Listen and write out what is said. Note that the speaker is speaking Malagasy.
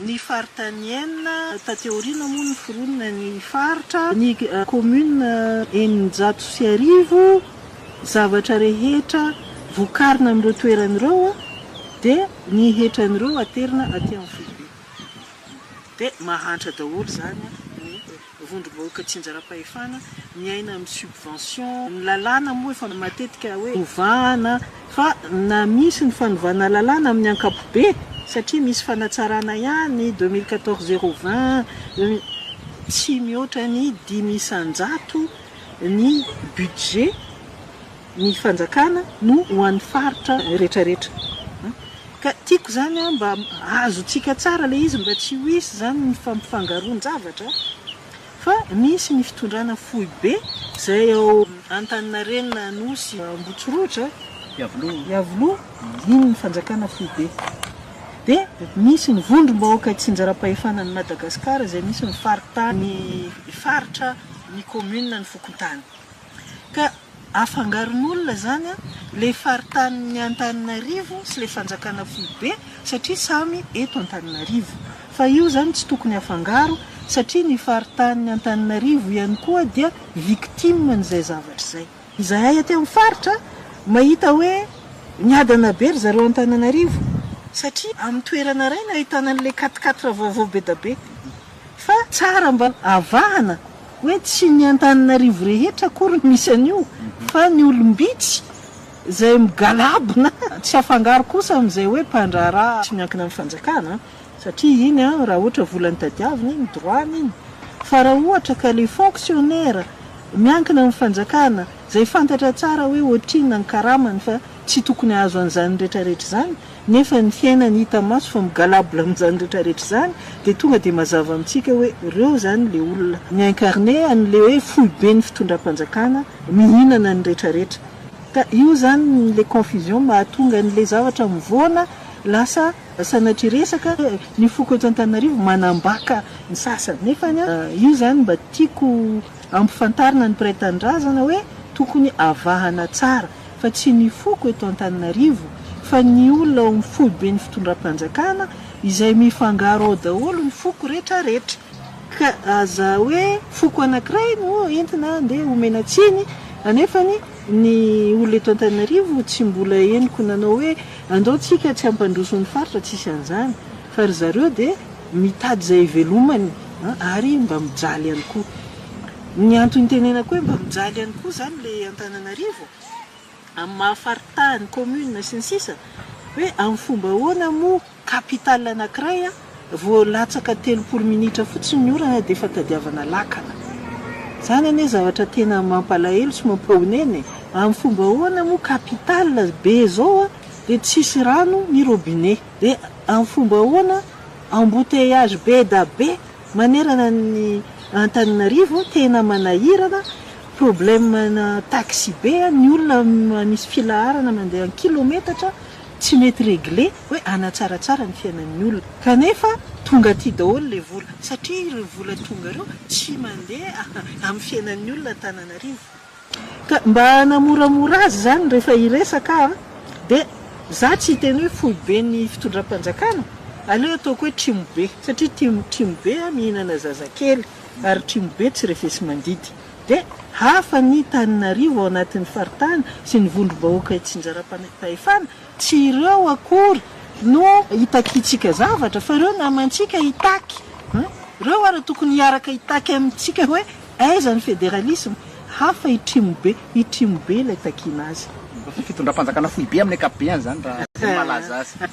Ny faritanienne, taty aoriana moa noforonina ny faritra, ny commune eninjato sy arivo, zavatra rehetra vokarina amin'ireo toerana ireo dia ny hetran'ireo aterina aty amin'ny foibe. Dia mahantra daholo izany ny. vondrom-bahoaka tsinjaram-pahefana miaina amin'ny subvention, ny lalàna moa efa matetika hoe hovahana fa na misy ny fanovana lalàna amin'ny ankapobe satria misy fanatsarana ihany deux mille quatorze zéro vingt tsy mihoatra ny dimy isan-jato ny budget. Ny fanjakana no ho an'ny faritra retraretra ka tiako zany an mba azontsika tsara le izy mba tsy ho hisy zany ny fampifangaroan-javatra fa misy ny fitondrana foibe zay ao Antaninarenina Anosy Ambotsirohitra Iavoloha iny ny fanjakana foibe de misy ny vondrom-bahoaka tsinjaram-pahefanan'i Madagasikara zay misy ny faritany faritra ny commune ny fokontany Ka afangaron'olona izany ilay faritanin'ny Antananarivo sy ilay fanjakana foibe satria samy eto Antananarivo. Fa io izany tsy tokony afangaro satria ny faritanin'ny Antananarivo ihany koa dia victime an'izay zavatra izay. Izahay aty amin'ny faritra mahita hoe miadana be ry zareo Antananarivo satria amin'ny toerana iray no ahitana an'ilay quatre quatre vaovao be dia be. Fa tsara mba avahana hoe tsy ny Antananarivo rehetra akory no misy an'io fa ny olom-bitsy izay migalabona tsy afangaro kosa amin'izay hoe mpandraharaha tsy miankina amin'ny fanjakana satria iny raha ohatra vola no tadiavina iny droit-ny iny fa raha ohatra ka ilay fonctionnaire miankina amin'ny fanjakana izay fantatra tsara hoe ohatrinona ny karamany fa tsy tokony hahazo an'izany retraretra izany Nefa ny fiainany hita maso fa migalabla amin'izany rehetra rehetra izany dia tonga dia mazava amintsika hoe reo izany le olona mi incarne an'le hoe foiben'ny fitondram-panjakana mihinana ny rehetra rehetra. Ka io izany le confusion mahatonga an'le zavatra mivoana lasa sanatria resaka hoe ny foko eto Antananarivo manambaka ny sasany. Nefany an, io izany mba tiako ampifantarina ny mpiray tanindrazana hoe tokony avahana tsara. fa tsy ny foko eto Antananarivo fa ny olona ao amin'ny foiben'ny fitondram-panjakana izay mifangaro ao daholo ny foko retraretra ka aza hoe foko anankiray no entina andeha homena tsiny anefa ny olona eto Antananarivo tsy mbola henoko nanao hoe andao tsika tsy hampandroso ny faritra tsisy an'izany fa ry zareo dia mitady izay hivelomany ary mba mijaly ihany koa. Ny antony itenenako hoe mba mijaly ihany koa izany ilay Antananarivo amin'ny maha faritany, commune, sy ny sisa, hoe amin'ny fomba ahoana moa capitale anankiray vao latsaka telopolo minitra fotsiny ny orana dia efa tadiavana lakana. Izany anie zavatra tena mampalahelo sy mampahonena e! Amin'ny fomba ahoana moa capitale be izao dia tsisy rano ny robinet? Dia amin'ny fomba ahoana embouteillage be da be Manerana ny Antananarivo tena manahirana, problème na taxibe ny olona misy filaharana mandeha an kilometatra tsy mety regler hoe hanatsaratsara ny fiainan'ny olona kanefa tonga aty daholo le vola satria ireo vola tonga ireo tsy mandeha amin'ny fiainan'ny olona Antananarivo. Ka mba hanamoramora azy izany rehefa hiresaka aho dia za tsy hiteny hoe foibe ny fitondram-panjakana, aleo ataoko hoe trimobe satria tim trimobe mihinana zazakely ary trimobe tsy refesi-mandidy. Dia hafa ny tanin'arivo ao anatin'ny faritany sy ny vondrom-bahoaka itsinjaram-pahefana, tsy ireo akory no hitakintsika zavatra fa ireo namantsika hitaky, ireo ary tokony hiaraka hitaky amintsika hoe Aiza ny federalisme? Hafa i Trimo be, i Trimo be ilay takiana azy. Fitondram-panjakana foibe amin'ny ankapobeny izany raha izay no mahalaza azy.